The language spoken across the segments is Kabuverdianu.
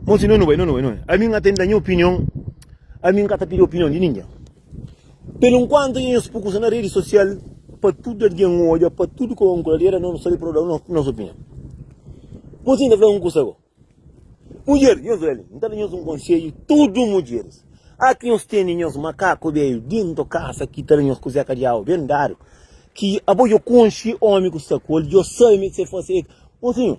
Monsi no no bai no no bai no bai ami nga ta inda nha opinion ami nga ta pidi opinion di ningen pelu nkuantu nha nhos pu kusa na redi sosial pa tudu algen odja pa tudu ka un kuladera no no sabe pa no da nos opinion ku si nta fla un kusa go mudjer nhos bai li nta da nhos un konsedju tudu mudjeris aki nhos teni nhos makaku beiu dintu kasa ki ta da nhos kuzeka di agu ben dadu ki abo djo konxi omi ku sta ku el djo sabe mi ke fase monsinho.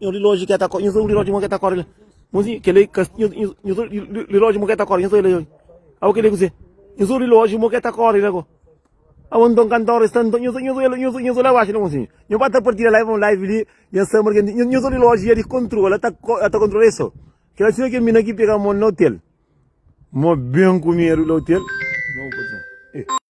Nhu rilóji ke ta kóre, nhu rilóji mon ke ta kóre la. Monzi, kele ka nhu rilóji mon ke ta kóre, nhu la oi. Au kele kuzê? Nhu rilóji mon ke ta kóre la ko. Au nton ka nton resta nton, nhu la baxi la monzi. Nhu ba ta partida live mon live li, nha samba ke ndi, nhu rilóji ya di kontrola, ta kontrola el so. Kela sima ke mina ki pega mon na otel. Mo ben ku medu la otel.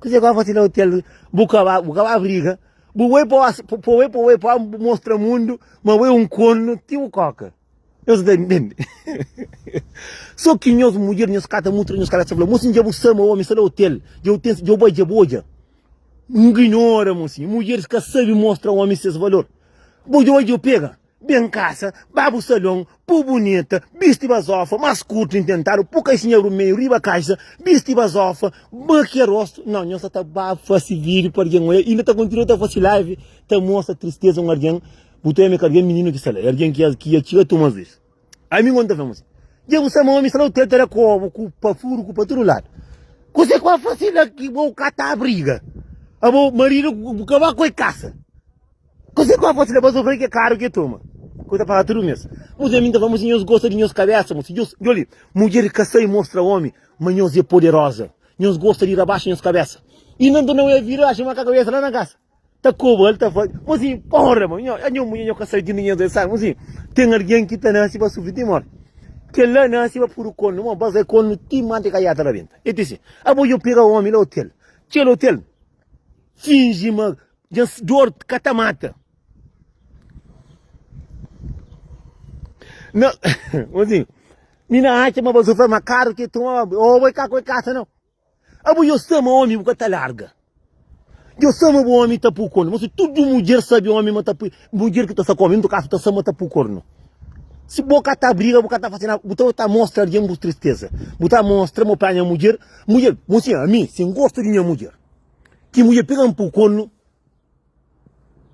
Kuzê ku fasi na hotel? Bu ka ba, bu ka ba briga. Bu bai pa oas, pa bai pa bai pa bu mostra mundu ma bu é un cornu ti bu koka. Eu sou da entende. Só que nhos mulher nhos cata muito nhos cala fala mocinho já bu sama homem sala hotel já tem já boy já boja ignora mocinho mulheres ka sabe mostra homem ses valor boja hoje eu pega Ben kasa, ba bu salon, pu bunita, bisti bazofa, mas kurtu intentadu, pu kaixinha rumeiu riba kaixa, bisti bazofa, makia rostu, nau nhos sa ta ba fasi video pa argen oia, inda ta kontinua ta fasi live ta mostra tristeza un argen, bu ta oia meka argen mininu ki sa la, e argen ki ki a txiga tuma vez, ami ngon ta fla mos, dja bu sa ma omi sa la u tenta la ku obu ku pa furu ku pa tudu ladu, kuse ku ba fasi la ki bo ka ta abriga, abo maridu bu ka ba koi kasa. Kuzê ki bu ta fase dipôs di ofende kel karu ki toma? Ki bu ta fala tudu mês? Mudjer minta fla, Mudjer, nhos gosta di nhos kabésa? Mos fla, Djosi, djosi li, mudjer ki ka sai mostra ómi ma nhos é poderoza. Nhos gosta di rabaxa nhos kabésa. I na nton, ela vira i axa ma ka kabésa la na kasa ta koba. El ta fla, Mos fla, Porra, ma nha mudjer, nhos ka sai di undi nhos é sal. Mos fla, Ten algen ki ta nase pa sufri ti mórti. Kel-la nase pa puru kornu, má ba kai kornu ti mante ka jata rabenta. El dise, Abo dja pega ómi la otel. Txeu otel finji ma Nhas dor ka ta mata. Não, assim, mina acha ma você foi mais caro que tu, ou vai cá com a casa não. Abu eu sei meu homem, porque tá larga. Eu sei meu homem tá por corno, mas tudo mulher sabe homem, mas tá por mulher que tá só comendo, caso tá só mas tá por corno. Se boca tá briga, boca tá fazendo, botar tá mostra alguém por tristeza. Botar mostra, meu pai minha mulher, mulher, você a mim, sem gosto de minha mulher. Ki mudjer pega-m pa kolu.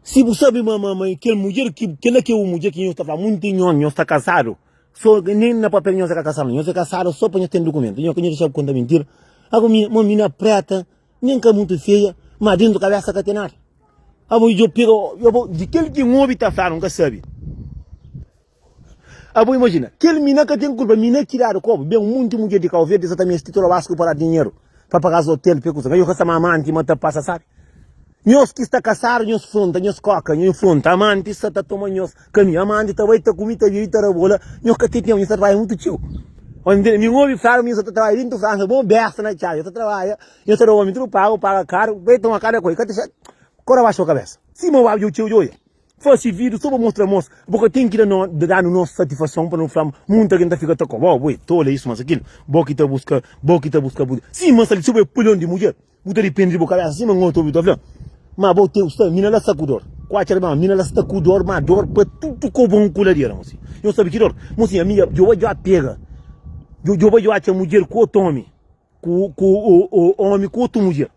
Si bu sabe ma, ma, ma kel mudjer, kel la ki é un mudjer ki nhos ta fla monti nhos, nhos sta kasadu. So, nen na papel nhos ka kasadu, nhos é kasadu so pa nhos ten dukumentu. Nhos ka nhos dexaba konta mintira. Abo mi, ma mina preta, nen ka monti feia, ma dentu kabesa ka ten nada. Abo djo pega, abo, di kel ki N obi ta fla, N ka sabe. Abo imajina, kel mina ka ten kulpa, mina ki dadu kobu, ben un monti mudjer di Kau Verdi sa ta meste ti troba-s ku paradu dinheru pa paga-s otel, p'e kusa ma yo ka sta ma amanti ma ta pasa sabi. Nhos ki sta kasadu, nhos fronta, nhos koka, nho fronta, amanti sa ta toma nhos kami, amanti ta bai, ta kumi, ta bibi, ta rabola, nho ka ten tenpu, nho sta trabadja mutu txeu. Ontem mi obi flalu ma nho sa ta trabadja dentu Fransa bon besta na txalu, nho ta trabadja, nho ta da omi tudu pagu, paga karu, bai toma kada koisa, ka ta xa, kora baxa bo kabesa, sima obi djobe txeu djobe. Fase vídiu sô pa mostra amor. Bo ka ten ki da nos, da danu nos satifason pa nu fla ma munti algen ta fika ta koba. Ó, bo é tolu, é isu mas akilu. Bo ki ta buska, bo ki ta buska bu. Sin, mas ali si bo é palion di mudjer, bu ta dipende di bu kabésa sin ma un otu obi ta fla ma bo ten sta mina la sta ku dor. Kuachi algen fla, mina la sta ku dor, ma dor pa tudu ku bon ku ladera. Mo sin, nhos sabe ki dor? Mo sin, ami, djoba djo a pega, djoba djo atxa mudjer ku otu omi. Ku ku omi ku otu mudjer.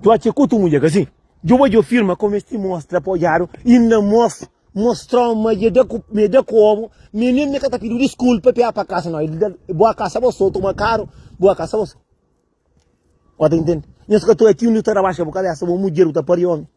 Tu atxa ku otu mudjer, ka si? Djoba djo firma kome es ti mostra pa odjadu i N na mos mostra-u ma dja da ku me da ku obu me nen me ka ta pidi-u diskulpa p'e apa kasa no. Bo a kasa bo so, toma karu bo a kasa bo so. Bo ta intende? Nhos ka ta ati undi bu ta rabaxa bu kabesa, bo mudjer bu ta pari omi.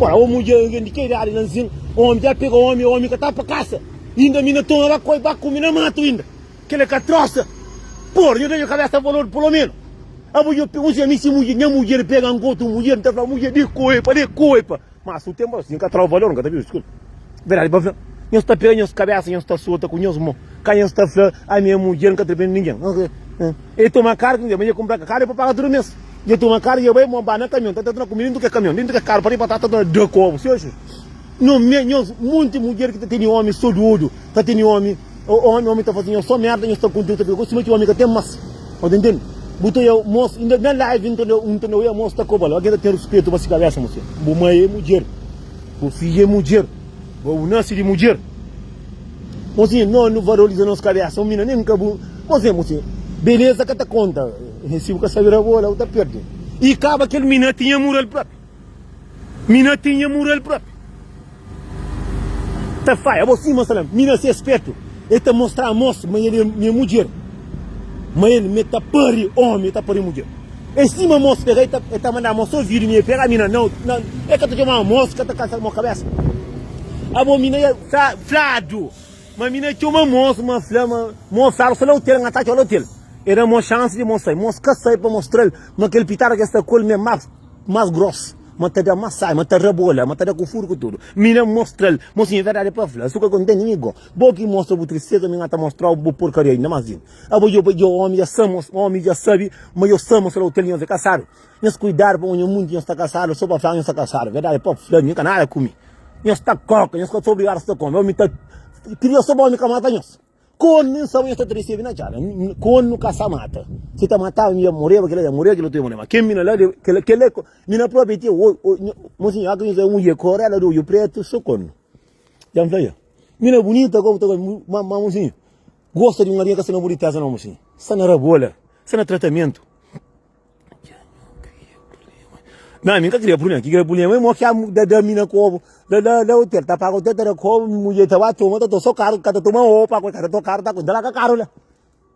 Ora o mudjer algen di ke idadi la nzin, Omi dja pega omi, e omi ka ta pa kasa. Inda mi na toma ba koi, ba kume na matu inda. Kela ka trosa. Por, nho ta nho kabesa pa lodu pulomenu. Abo nho pe, uzi ami si mudjer, nha mudjer pega anka otu mudjer, nta fla mudjer de koi pa, de koi pa. Mas su tempu asin ka trova valor, nka ta bistu kil. Verdadi pa fla, nhos ta pega nhos kabesa, nhos ta sota ku nhos mo. Ka nhos ta fla, ami e mudjer nka ta depende di ningen. E toma kar ki nde, ma e kunpra ka kar e pa paga tudu mes. Dja toma karu, dja bai monba na kamion, ta tratuna kumida dintu ke kamion, dintu ke karu pa riba ta tratuna da kobu. Siu siu. Nho me, nho monti mudjer ki ta teni omi so di odju, ta teni omi, omi, omi ta fasi nho so merda, nho sta kontenti pika ku suma ki omi ka ten mas. O ta intendi? Bu ta oia mosu, inda na live N ta oia, N ta oia mosu ta kobal, algen ta ten ruspetu pa si kabesa, mostra, bu mai e mudjer, bu fiju e mudjer. Bo nase di mudjer. Mozinha, no nu valoriza nos kabesa. Mina nem ka bu. Mozinha, mozinha. Beleza ka ta konta. Se bu ka sabe rabola, bu ta perde. E kaba kel mina tinha mural propi. Mina tinha mural propi. Ta faia bo sima salam. Mina se spertu. El ta mostra amos ma el é nha mudjer, ma el me ta pari omi, el ta pari mudjer. É si ma amos pega, el ta, el ta manda amos ovidu mi, el pega mi na nau, na, el ka ta txoma amos, ka ta kasa mo kabesa. Abo mi na el fla, fladu, ma mi na txoma amos, ma fla ma mo fla amos fla otel, nha ta txola otel. El da mo xansi di mo sai, ma amos ka sai pa mostra-l ma kel pitada ki el sta ku el mi é más, más grosu, ma ta da masai, ma ta rabola, ma ta da ku furu ku tudu. Mi na mostra-l, mo siña, verdadi pa fla, el suka kontenti mi go. Bo ki mostra bu tristeza, mi n'ga ta mostrau bu porkaria ainda mas Djin. Abo djo pa djo omi dja sa mos, omi dja sabi ma yo sa mostra otel nhos é kasadu. Nhos kuidadu pamo nha munti nhos ta kasadu so pa fla nhos ta kasadu. Verdadi pa fla mi n'ka nada ku mi. Nhos ta koka, nhos ka ta obrigadu sta ku omi. Omi ta kria so pa omi ka mata nhos. Kon mi n'sa ma nhos ta tresi ami na txada. Kon nu ka sa mata. Si ta mataba mi dja moreba kila dja moreba kila otu dja moreba. Ma ken mi na la deba kila kila mi na propi ti. Monsinhor, aka nhos da un mudjer korela de odju pretu so kon. Ya mi fla el, Mi na bunita gobi ta gobi, mi ma ma mosinhu, gosta di un aria ka sta na bunitesa no mosinhu, sta na rabola, sta na tratamentu. Na mi ka kria prublema, ki kria prublema é mo ki a da da mi na kobu, da da da hotel, ta paga hotel, ta da kobu, mi mudjer ta ba toma, ta to so karu, ka ta toma o pa ko, ka ta to karu ta ko, dala ka karu la.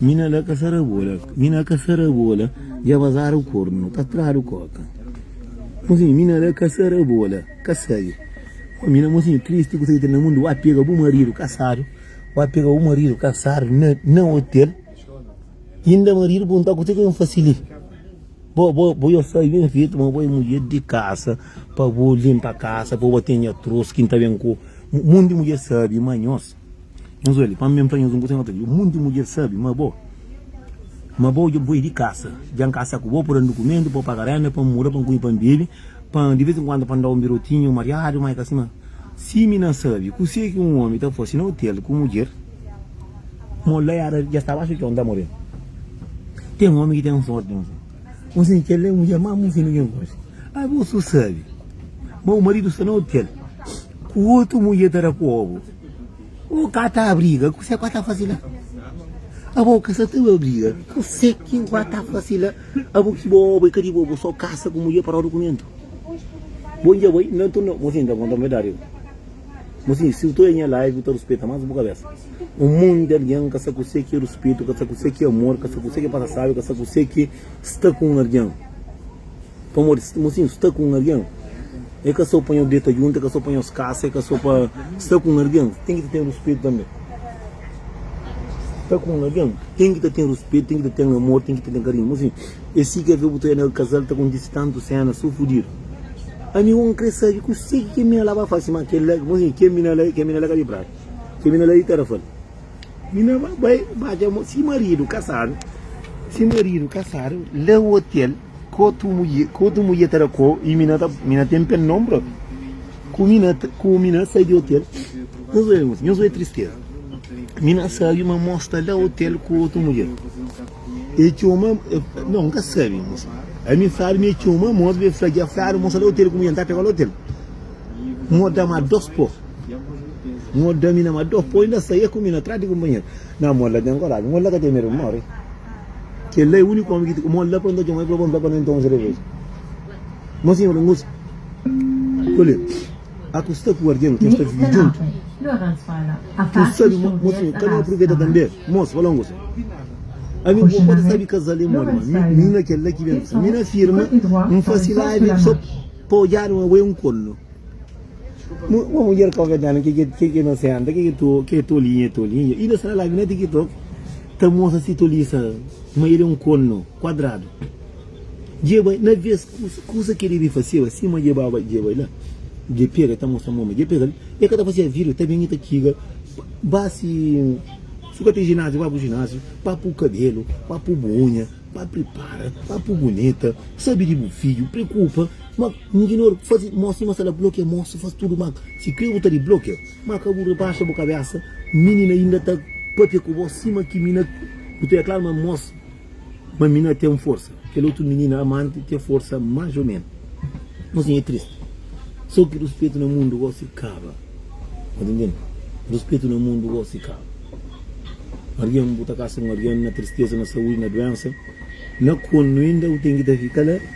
Mina la ka sara bola Mina ka sara bola Dja bazadu kornu Ka tradu koka Mozinhu mina la ka sara bola Ka sabe Ó mina mozinhu tristi Ku sa ki ten na mundu Wá pega bu maridu kasadu Wá pega bu maridu kasadu Na, na otel Inda maridu punta-u Kuzê ki N fase li Bo, bo, bo yo sai ben fetu Ma bo é mudjer di kasa Pa bo linpa kasa Pa bo ten nha trus Ki N ta ben ku Monti mudjer sabi Ma nhos. Nhos odja li, pamodi mi N fla nhos un kuza, nhos ka kri. Monti di mudjer sabi ma bo, ma bo dja N poi di kasa, dja N kasa ku bo pa da-m dukumentu, pa paga rénda, pa N muda, pa N kume pa N bebe, pa N, di vez en kuandu, pa N da-u un birotinhu, un mariadu, má é ka sima. Si mi na sabe kuse ki un ómi ta fase na otel ku mudjer, mo la éra dja staba, axa txon, ta moreba. Ten ómi ki ten sórti, nhos. Nsin, kel-li é mudjer má mô fidju ken konxe. Má bu so sabe ma bu maridu sta na otel ku otu mudjer ta da kóbu. Bo ka ta briga, kuzê ku a ta faze la? Abo ka sa ta ba briga, kuzê ki bu a ta faze la? Abo ki bo obi ka di bo, bu so kasa ku mudjer pa roda dukumentu. Bo dja bai, nton, nton. Mosin, ta konta-m verdadi. Mosin, si bu ta oja nha live, bu ta ruspeta más bu kabésa. Un monti di algen ka sta kuse ki ruspetu, ka sta kuse ki amor, ka sta kuse ki pasa sabi, ka sta kuse ki sta ku un algen. Pamodi si nu sta ku un algen, e ka so pa nhos deta juntu, e ka so pa nhos kasa, e ka so pa sta ku un algen ten ki ta ten ruspetu tanbe. Sta ku un algen ten ki ta ten ruspetu, ten ki ta ten amor, ten ki ta ten karinhu. Mo sin e si ke febu ta ena ku kazal ta kontisi tantu sena so fudidu. Ami bo n kre sabi kuse ki kel mina la ba fasi ma kel la, mo sin kel mina la, kel mina la ka bin prata. Kel mina la i ta ra fal, Mina ba bai badja mo si maridu kasadu, si maridu kasadu la otel ku otu mudje, ku otu mudje ta ra ko i mina ta, mina ten pen nom bro. Ku mina, ku mina sai di otel, nhos obi muzika, nhos obi tristeza. Mina sabi ma mo sta la otel ku otu mudje. E txoma, non N ka sabi, nhos, ami N sabi ma e txoma mos, be fla dja fladu mo sta la otel ku mudje, N ta pega-l otel. Mo da-ma dos pó. Nho da mi na ma dor poi na saia ku mi na trás di kunpanheru na mol la ten koraji mol la ka ten medu mori kel la é uniku omi ki mol la pronta txoma i proba npla pa na nton sereveja mo si nho ngusa koli a ku sta ku argen ki nta vive djuntu tu sabi mo mo si nho ka na apruveta tanbe mos fala ngusa ami bo pode sabi kazal é moli ma mi na kel la ki ben mi na firma nfasi lavi so pa odjadu ma bo é un kornu. Uma mulher caucasiana que, que, que, que inocente, que, que, to, que tolinha, tolinha. E dessa lá, na TikTok, tá moça se toliça, mas ele é um cono quadrado. Jeba, na vez, coisa que ele fazia, assim, mas jeba, jeba, lá. Je pega, tá moça, mama, je pega, e cada fazia vídeo, tá bem, tá kiga, base, suca tem ginásio, vai pro ginásio, vai pro cabelo, vai pro unha, vai prepara, vai pro bonita, sabe de filho, preocupa, mas N di nôr, faze mó sima sa la blokia mó si faz tudu mal si kre bu ta di blokia ma ka bu rebaxa bu kabesa mini na inda ta papia ku bo sima ki mi na bu ta deklaro ma mos ma mi na ten forsa kel otu minina amanti ten forsa mas o men nos nha e triste so ki ruspetu na mundu gosi kaba ta tendendo ruspetu na mundu gosi kaba algen bu ta kasa un algen na tristeza na saudi na duensa na kuandu inda bu ten ki ta fika la.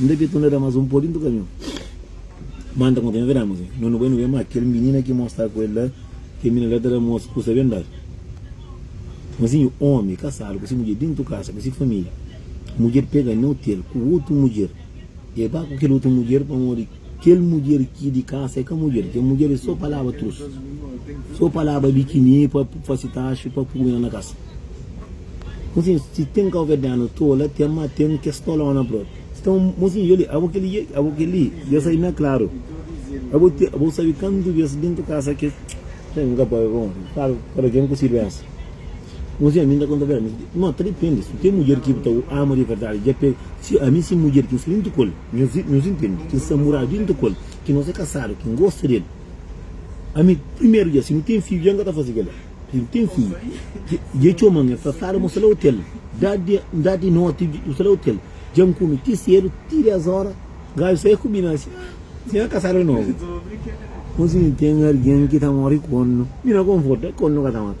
Nde ke tu na da mas un podi ntu kamiu. Manta konta neve dama si no nu bai nu ben ma kel minina ki mo sta ku el la kel minina la ta da mos kusa ben dal. Ma si nhu omi kasadu ku si mudjer dintu kasa ku si familia mudjer pega neu tel ku otu mudjer e ba ku kel otu mudjer pamodi Kel mudjer ki di kasa e ka mudjer, kel mudjer e so palaba trus, so palaba di ki mi pa fasi taxi pa pubi na na kasa. Mosin, si ten kauverdianu tola ten ma ten kes tolona prop. Nton mosin dja li, abo keli, abo keli dja sai na klaru. Abo te, abo sabi kantu bes dentu kasa kes, nka pa, bon, klaru, kada ken ku si duensa. Uns di ami nta konta verdadi, mas no ta depende. Si bu ten mudjer ki bu ta ama di verdadi, dja pe si ami si mudjer ki N sta dintu ku el, nhos intende ki N sta muradu dintu ku el, ki nos é kasadu, ki N gosta di el. Ami primeru dja si nu ten fidju dja N ka ta faze kel-la. Si nu ten fidju dja e txoma-m, e fla, Flávio, mos ta la otel, N da-u di noti, nu ta la otel, dja N kume ti sedu, ti des óra, gajo sai ku mi na si si nha kasadu é novu. Ô si nu ten algen ki ta móre ku kóndu, mi na konforta, kóndu ka ta mata.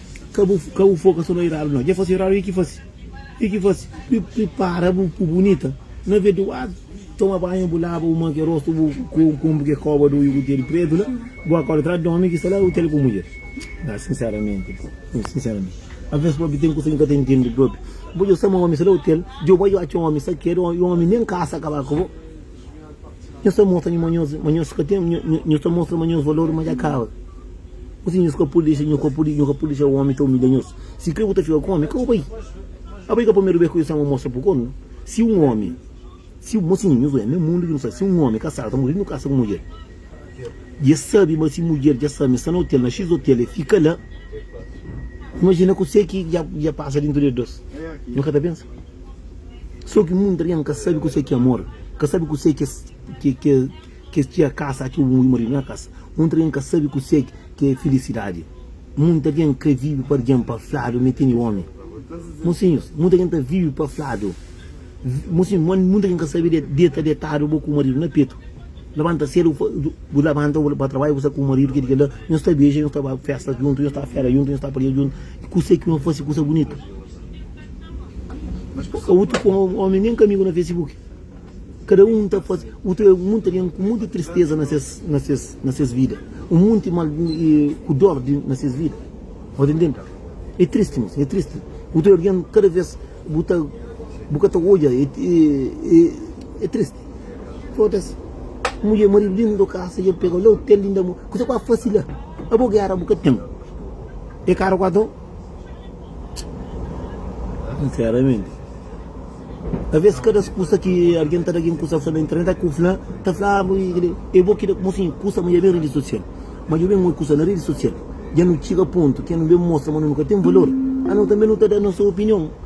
Ka bu ka bu foka so na iradu no dja fase iradu i ki fase i ki fase pi pripara bu ku bunita na veduadu toma banhu bu laba bu ma ke rostu bu kunpri ke koba du i kutelu pretu la bu akorda tradu di omi ki sta la u tele ku mudjer a sinseramenti u sinseramenti alves propi ten kusa ki bu ka ta intendi propi bu dja sta ma omi sta la u tele djoba dja u atxa omi sa keda i omi nen kasa kaba ku bo. Nhos ta mostra ma nhos ka ten, nhos ta mostra ma nhos valor ma dja kaba. Gosi nhos ka pode dexa, nhos ka pode dexa omi ta umilha nhos. Si kre bu ta fika ku omi, ka bu bai. Abai ka primeru bes kuza ki nhos sta ma mostra pa kornu. Si un omi, si un, mosinhu, nhos oja na mundu ki nu sta, si un omi kasadu ta muri nu kasa ku mudjer. I el sabe ma si mudjer dja sta ma el sta na otel, na X otel, el fika la. Imajina kuse ki dja pasa dentu di es dôs. Nu ka ta pensa? Sô ki munta algen ka sabe kuse ki é amor, ka sabe kuse ki es tira kasa atxeu un maridu na kasa. Munta algen ka sabe kuse ki é filisidadi. Munta algen krê vive pa algen pa fladu ma el tene ómi. Mosinhus, munta algen ta vive pa fladu. Mosinhus, munta algen ka sabe deta detadu bo ku maridu na petu. Labanta sedu, bu labanta, bu ba trabadju, bu sta ku bu maridu, kel li, kel la, nhos ta beja, nhos ta ba festa djuntu, nhos ta fera djuntu, nhos ta paria djuntu, i kusé ki nhos fase kusa bunitu? Nhos ka utru ku omi nen kamigu na Facebook? Kada un ta fase, utru é munti algen ku munti tristeza na ses, na ses, na ses vida, un munti mal, ku dor na ses vida. Bo ta ntende? É tristi, mosi, é tristi. Utru algen kada vez bu ta, bu ka ta odja, é tristi. Foda-s. Mulher, marido dentro do casa e el pega la hotel inda mo. Kusa ku a fasi la? A bo guerra bu ka tem. E cara ku a do. Sinceramente. Talvez cada kusa ki alguém ta da alguém kusa fla na internet a ku fla ta fla ah, e bo kida mo sim kusa ma ya ben rede social. Ma yo ben oi kusa na rede social. Ya no tchiga ponto ke no ben mostra ma no ka tem valor. Ah no tambe no ta da nosso opinion.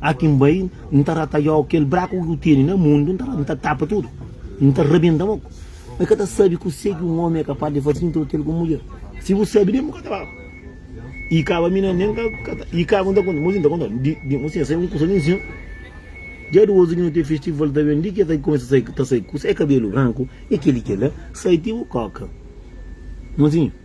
Há quem bai N ta rata Yo kel braku ki bu tene na mundu N ta rata N ta tapa tudu N ta rabenta moku N ka ta sabe kuse ki un omi é kapaz di faze Introdu el ku un mudjer Si bu sabe ben bu ka ta fala I kaba mi na nen ka ta I kaba N ta konta Mosi N ta konta di di Mosi N sai un kusa ninsin Dja di ozi ki no ten festival ta ben Di ki el ta kumesa sai ta sai kusa É kabelu branku é kel-li kel-la Sai ti bu koka Mosi.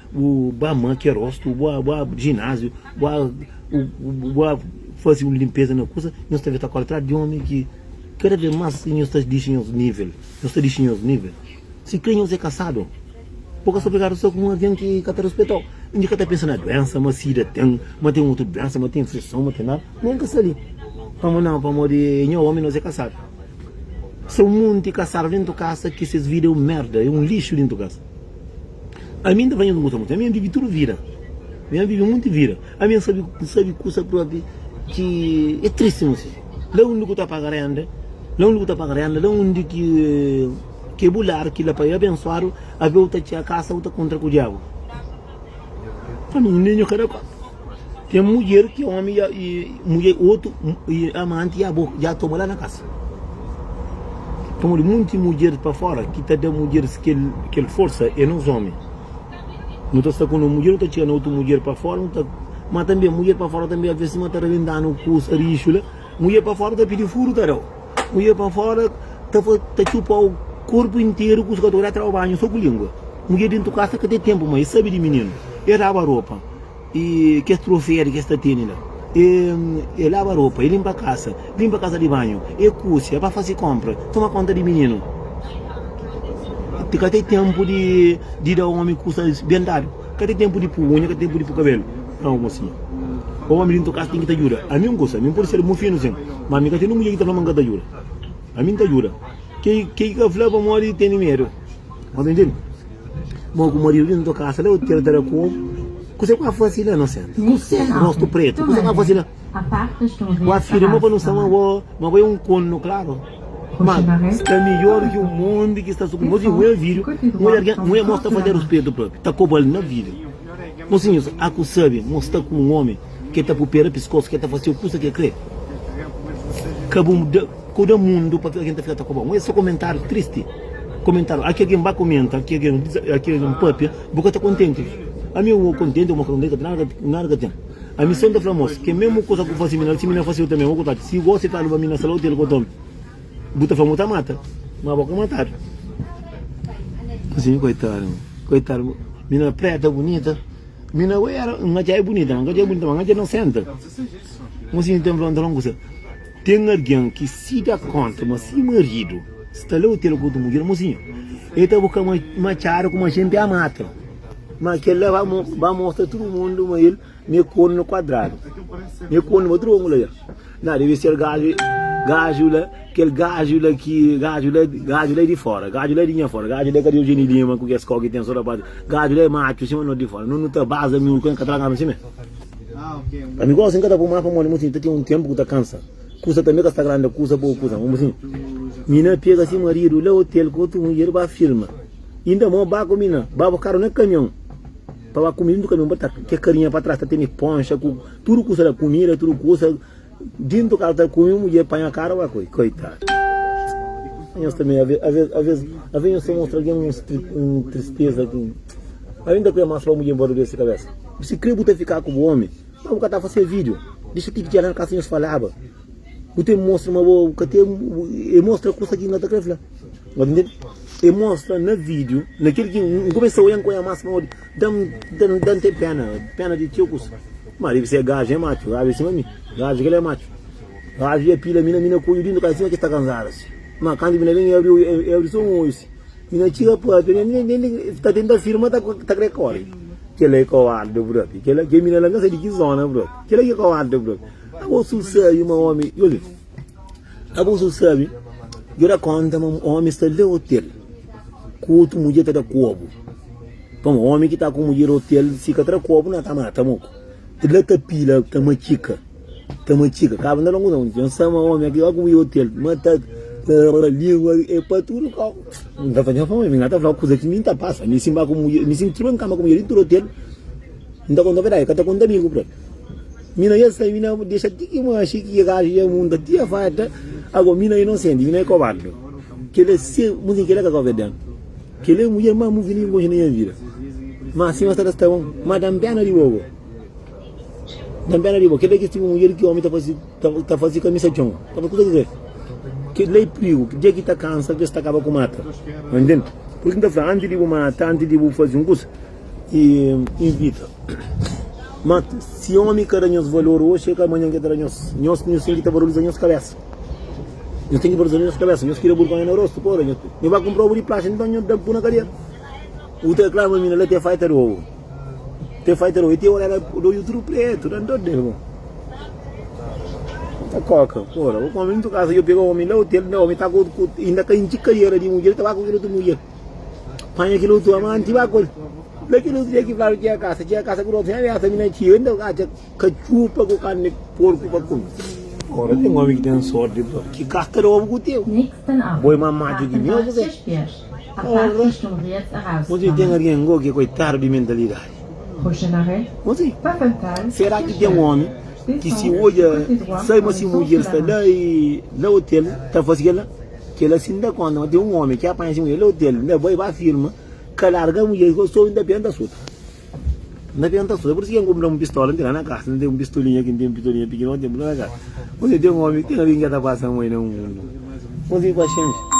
Bu ba makia rostu, bu ba ba ginásio, bu ba bu ba faze un linpeza na kusa, nhos ta ben ta kóre atrás di ómi ki kada vez más nhos ta dixi nhos nível, nhos ta dixi nhos nível. Sikrê nhos é kasadu, bu ka sta obrigadu sta ku un algen ki ka ta rispeta-u. N ka ta pensa na duénsa, ma sida ten, ma ten otu duénsa, ma ten infeison, ma ten nada, ma N ka sta li. Pamodi nau? Pamodi é nha ómi, nos é kasadu. Sta un monti kasadu déntu kasa ki ses vida é un merda, é un lixu déntu kasa. Ami N ta faze-s gosta monti. Ami N vive tudu vida. Ami N vive monti vida. Ami N sabe, N sabe kusa propi ki e tristi mossi. La undi ku ta paga renda, la undi ku ta paga renda, la undi ki ke bu lar ki la pa e abensuadu, avi au ta txia kasa au ta kontra ku diabu. Ami un lenho kada kóp. Ten mudjer ki ómi ya i mudjer otu i amanti ya bo ya toma la na kasa. Pamodi monti mudjer pa fora ki ta da mudjeris kel kel forsa é nos ómi. Nu ta sta ku nos mudjer, nu ta txiga na otu mudjer pa fora, nu ta. Má tanbê mudjer pa fora tanbê alvês sima ta rebenta-nu ku saríxu la, mudjer pa fora ta pidi furu ta da-u. Ku ia pa fora ta fa, ta txupau korpu interu ku sugador ya traba banhu so ku lingua. Mudjer dentu kas ta ka ten tenpu ma e sabi di mininu. E raba ropa i kes troferi kes ta teni la. E e laba ropa, e limpa kasa, limpa kasa di banhu, e kusi, e ba fasi konpra, toma konta di mininu. Ka ten tenpu di di da omi kusa ben dadu. Ka ten tenpu di pu uña, ka ten tenpu di pu kabelu. Nau, mosinha. Pa omi di nto kasa ten ki ta djuda ami un kusa. Mi N pode ser bon finu sin, ma mi ka ten un mudjer ki ta fla ma N ka ta djuda. Ami N ta djuda. Ke ki ka fla pamodi ki tene medu. Bo ta intende? Bo ku maridu di nto kasa la, bu tratadu ku omi. Kuse ku N ka fasi la, inusenti? Rostu pretu. Kuse ku N ka fasi la? Ku afirma pa nu sta ma bo, ma bo é un konu klaru. Má, sta midjór ki un monti ki sta sukundi. Oji N odja vídiu, N odja algen, N odja mô sta faze ruspetu própi, ta koba-l na vídiu. Mosinhus, a ku sabe mô sta ku un ómi ki el ta pupera piskosu, ki el ta fase-u kusa ki el krê? Ka bu ka bu da mundu pa algen ta fika ta koba-u. N odja sô komentáriu tristi, komentáriu a ki algen ba komenta, a ki algen a ki algen pâpia, bu ka ta kontenti. Ami, N ôu kontenti, ô mô fla, N ka ten nada, nada ka ten. Ami son ta fla mos, ke memu kusa ku fasi mi na la, si mi na fasi yo tambi. Okutadu, si gosi e kaluba mi na sala otel ku otomi, bu ta fla ma bu ta mata, ma bo ka matadu. Asin, koitadu, koitadu, mi na preta bunita, mi na bai era, N atxa e bunita, ma N ka atxa e bunita, ma N atxa inosenta. Mo si N ta fla, N ta fla un kusa, ten algin ki si da konta ma si maridu sta la otel ku otu mudjer, mosinhu, e ta buka ma, ma atxadu kuma jente a mata. Ma kel-la ba mostra tudu mundu ma el mi é kórnu kuadradu. Mi é kórnu pa tudu ângu la el. Nha, debe ser gaju, gaju la, kel gaju la ki, gaju la, gaju la é di fóra, gaju la é di nha fóra, gaju la é ka di Eugénie Lima ku kes kó ki ten sô ta pâpia, gaju la é matxu sima nos di fóra. Nos nu ta baza miúdu ku el, N ka ta laganu simé. Pa mi gósi, N ka ta pô más pamodi mô siñu ta ten un ténpu ku ta kansa. Kusa tanbê ka sta grandi, kusa, poku kusa. Mô siñu, mi na pega si maridu la ôtel ku otu mudjer, ba firma. Inda mo ba ku mi na ba bu karu na kamion pa ba kume dintu kamion pa ta ke karinha pa tras ta tene ponxa ku tudu kusa la kumida tudu kusa dintu karu ta kume mudjer panha karu ba koi koitadu nhos tambi aves aves aves aves nhos ta mostra algin un stri un tristeza ki algin ta kre mas pa mudjer nbora dor si kabesa si kre bu ta fika ku bu omi ma bu ka ta fase video disa ti fitial na kasa nhos falaba Bu ten mostra ma bo ka ten, e mostra kusa ki na ta kre fla. Bo ta ntende? E mostra na video, na kel ki N kumesa oian, oian mas pamodi da-m ten pena, pena di txeu kusa. Ma debe ser gajo, e matxu, gajo e sima mi, gajo kel e matxu. Gajo ya pila mi, mi na kuiu dintu ka sima ki sta kanzadu si. Ma kantu mi na ben, e abri oiu, e abri so un oiu si. Mi na txiga pape, mi na ntende ki ta tenta firma ta ta kre kori. Kela e kowarda brote, kela, ke mi na la n ka sai di ki zona brote, kela ki e kowarda brote. Abusu sabi ma omi Yoli Abusu sabi Yo da konta ma omi sta le otel Ku otu mudjer ta da kobu Pama omi ki ta ku mudjer otel Si ka tra kobu na ta mata moko Ti la ta pila ta matxika Ta matxika Kaba na longu nau Yo sa ma omi ki ta ku mudjer otel Ma ta Rrrr Lingua e pa tudu kau N ta fadja fau Mi na ta fla kuza ki mi ta pasa Mi si N ba ku mudjer Mi si N triba N kama ku mudjer N tra otel N ta konta verdadi Ka ta konta amigu pra el. Mina esa mina dexa ti ki manxi ki ke gajo ya munta ti ya fai ata ago mina inosenti mina e kobardu kele se muzinka kele ka ka obeden kele mujer ma muvi ningu konxe na nha vida ma si ma sa ta sta bon ma dan pena di bobo dan pena di bo kele ki tipu mujer ki omi ta fasi ta fasi kamisa con ta fasi kusa ki se kele i prigu dia ki ta kansa bes ta kaba ku mata mantende pur isu nta fla anti di bu mata anti di bu fasi un kusa I invita. Má si ómi ka da nhos valor oji, kel manhan ki el ta da nhos. Nhos ten ki ta valoriza nhos kabésa. Nhos ten ki valoriza nhos kabésa. Nhos tira burgónha na rostu. Pô, Nho ba kunpra ovu di plaxa, nton nho da-m pui na kadea. U ta reklama mi na la, Te fai ta da ovu. Te fai ta da ovu. I ti ora la bo da oju tudu prétu. Da-m dór del, bo. Bo ta kóka. Pô, bo kónpra mi. Nton kasa, nho pega ómi la, otel. Ómi ta ku otu. Inda ka intxi kadiera di mudjer, ta ba ku kel otu mudjer. Panha kel otu amanti ba ku el. Na kel otu dia ki fla txia kasa, txia kasa ku otu, nha biasa mi na txia, yo inda atxa katxupa ku karni di porku pa kume. Ora ten omi ki ten sorti pa ki gasta da obu ku txeu, bo é más matu ki mi, ô kuzê? Ora, mos é ki ten algen ngo ki é koitadu di mentalidadi. Gosi, sera ki ten omi ki si odja sai ma si mudjer sta la i la otel ta fase kel la? Kela si N da konta, ma ten un omi ki apanha si mudjer la otel, N da bai ba firma ka larga mudjer ki otou N ta penta suta. N ta penta suta. Pur isi ki N kunpra un pistola, N ten la na kasa. N ten un pistolinha ki N ten pistolinha pikinoti, N ten tudu la na kasa. Gosi, ten omi, ten algin ki ka ta pasa mai na mundu. Gosi, paxenxa.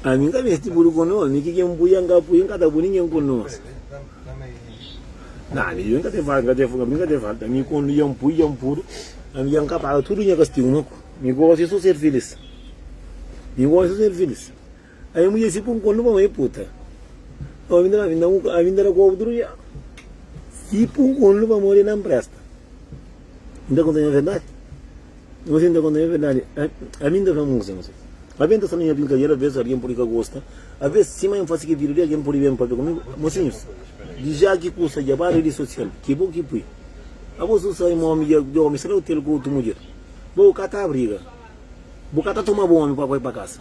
A mi ka mesti bulu ku nos, ni ki ken pui an ka pui, n ka ta bu ningen ku nos. Na, ni yo n ka te fal, n ka te fal, n ka te fal, mi kondu yan pui, yan puru, a mi yan ka paga tudu nha kastigu, mi gosi so ser filis, mi gosi so ser filis. Ai un mudjer si pun kol numa mai puta Omi nda ma vinda un ami nda da ku outru dja Si pun kol numa modi na mpresta N ta konta nha verdadi Numa si N ta konta nha verdadi Ami N ta fla mun kusi numa si Aben ta sta na nha brinkadera Abes algen pudi ka gosta Abes sima N fasi kel video li algen pudi ben papia ku mi Mosinhus di dja ki kusa dja pa redi sosial Ki bo ki pui Abo su sai ma omi dja dja omi sta na otel ku outru mudjer Bo ka ta briga Bo ka ta toma bo omi pa bai pa kasa.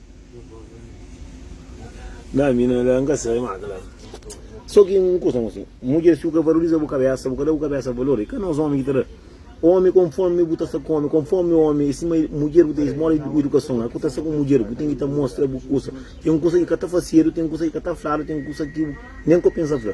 Dá mi na la, n ka sabe má kla. Sô ki un kuza, mô si, mudjer si bu ka valoriza bu kabésa, bu ka da bu kabésa valor, i ka nos ómi ki ta da. Ómi, konfómi bu ta sta ku ómi, konfómi ómi é sima mudjer, bu ten es moda di idukason. Éra ku ta sta ku mudjer, bu ten ki ta mostra bu kuza. Ten kuza ki ka ta fasedu, ten kuza ki ka ta fladu, ten kuza ki bu nen ka pensa fla.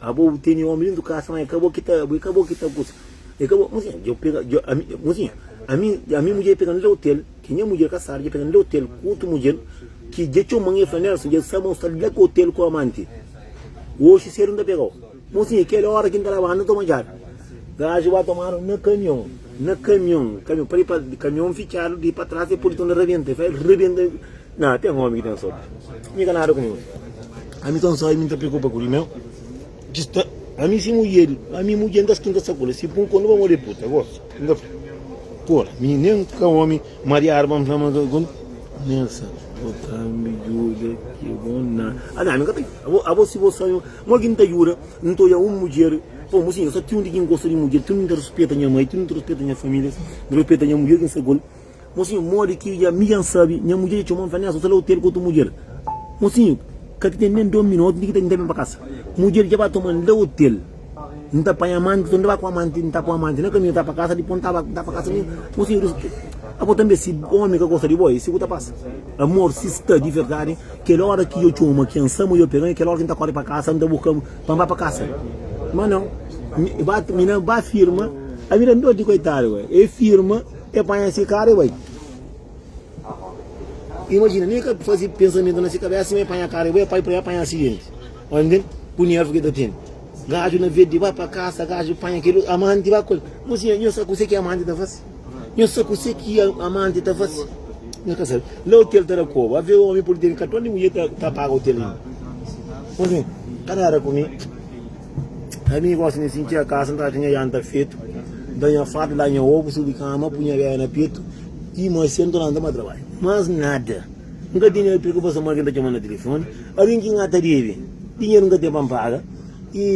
Abo bu teni omi dentu kasa ma e ka bo ki ta abo e ka bo ki ta kusa e ka bo mozinha dja pega dja ami mozinha ami ami mudjer dja pega na hotel ki nha mudjer kasadu dja pega na hotel ku otu mudjer ki dja txoman e fla Nelson dja sa ma u sta la ku hotel ku amanti oxi sedu n ta pegau mozinha kela ora ki n ta labau na toma djabi gaji ba tomanu na kamion na kamion kamion pali pa kamion fitxadu di pa tras e politon na rabenta e fla el rabenta. Na, ten omi ki ten sorti. Mi ka nada ku ninhun. Ami sta nsai, mi nta preokupa ku di meu. Ki sta ami si mudjer di. Ami mudjer nta skinta sakola. Si pun kor, nu ba mode puta. Gosi. N ta fla. Kor, mi nen ka omi mariadu pa N fla ma ka ku. Nessa, bo ta mi juda ki bo na. Ami, ami ka ta. Abo, abo si bo sa mi. Mo ki N ta juda, N ta oja un mudjer. Pô, mo sinhor, sa ti un di ki N gosta di mudjer. Ti un di N ta ruspeta nha mai, ti un di N ta ruspeta nha familia. N ta ruspeta nha mudjer ki N sa ku el. Mosinhu, Modi ki dja mi dja N sabe? Nha mudjer dja txoma-m, fla-m, Néson, sta la otel ku otu mudjer. Mosinhu, Ka ki ten nen dos minotu di ki N ta ben pa kasa. Mudjer dja ba toma-m la otel. N ta panha amanti, sta N ta ba ku amanti, N ta ku amanti na kaminhu ta pa kasa, dipô N ta ba N ta pa kasa. Mosinhu, N rispundi, Abo tanbe si ómi ka gosta di bo? É si ku ta pasa. Amor, si sta di verdadi, kel óra ki dja txoma ki N sa-m, dja pega-m, é kel óra ki N ta kóre pa kasa, N ta buka-m pa N ba pa kasa. Má nau, mi na ba firma. Ami ta dóti, koitadu. É firma. E panha si karu e bai. Imajina, nen ka fazi pensamentu na si kabesa, sima e panha karu e bai, pa e panha asidenti. Omi ben ku nervu ki e ta tene. Gaju na vedi, ba pa kasa, gaju panha kel amanti, ba kol. Mosinha, nho sa kuse ki amanti ta fasi. Nho sa kuse ki amanti ta fasi. Nho ka sabe. La otel ta da koba. Ave omi pudi tene katon di mudjer ta paga otel inda. Mosinha, ka dada ku mi. Ai mi gosi mi sinti a kasa ntra ki nha janta fetu Da nha farda, da nha obu, subi kama, pu nha bebe na petu Ti ma sentu na nta ba trabadju Mas nada N ka tene preokupason ma algen ta txoma na telefoni Algen ki N ta debe dinheru N ka ten pa N paga I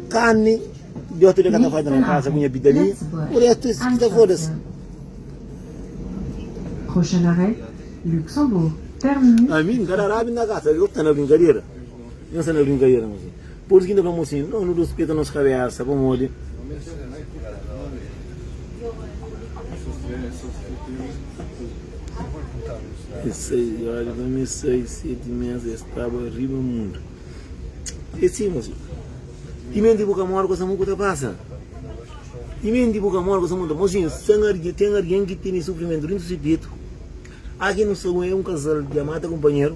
kami di otu de ka ta falta na kasa ku nha pitalinha Ku restu es ki ta foda-se Prochain arrêt, Luxembourg, terminus. Ami, n ka da rabi na kasa, algen ki ta na brinkadera. Nhos anda brinkadera nos li. Pursi ki N ta fla-mo sin? Nau, nu ruspeta nos kabésa. Pamodi? Es sai, i ora ben es sai seti mes, es staba riba mundu. E si, nos li. Timenti bu ka mora, kosamu ku ta pasa. Timenti bu ka mora, kosamu ta. Mosinhus, ten argen, ten argen ki tene sufrimentu dentu si petu. Aki nu sta, e un kazal di amata kunpanheru.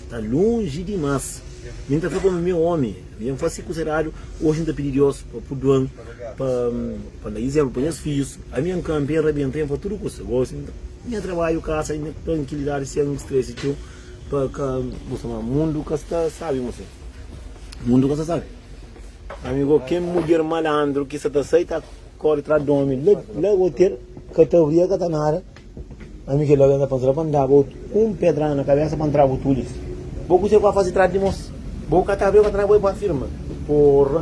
Ta lonji dimas mi nta fla kome meu omi mi nfa si kusa eradu oji nta pidi dios pa puduan pa pa nda izenplu pa nhas fijus ami nka npe nrabenta nfa tudu kusa gosi nha trabaju kasa nha trankilidadi sen stresi txeu pa ka gosta ma mundu ka sta sabi mu sen mundu ka sta sabi amigo ken mudjer malandru ki sa ta sai ta kori tras domi la la otel ka ta bria ka ta nada. Ami kel algen ta pensaba pa N daba-u un pedrada na kabésa pa N tra-bu tudu es. Bo kuzê ku N faze trás di dimos? Bo ka ta ben pa trás bo é bo afirma? Porra!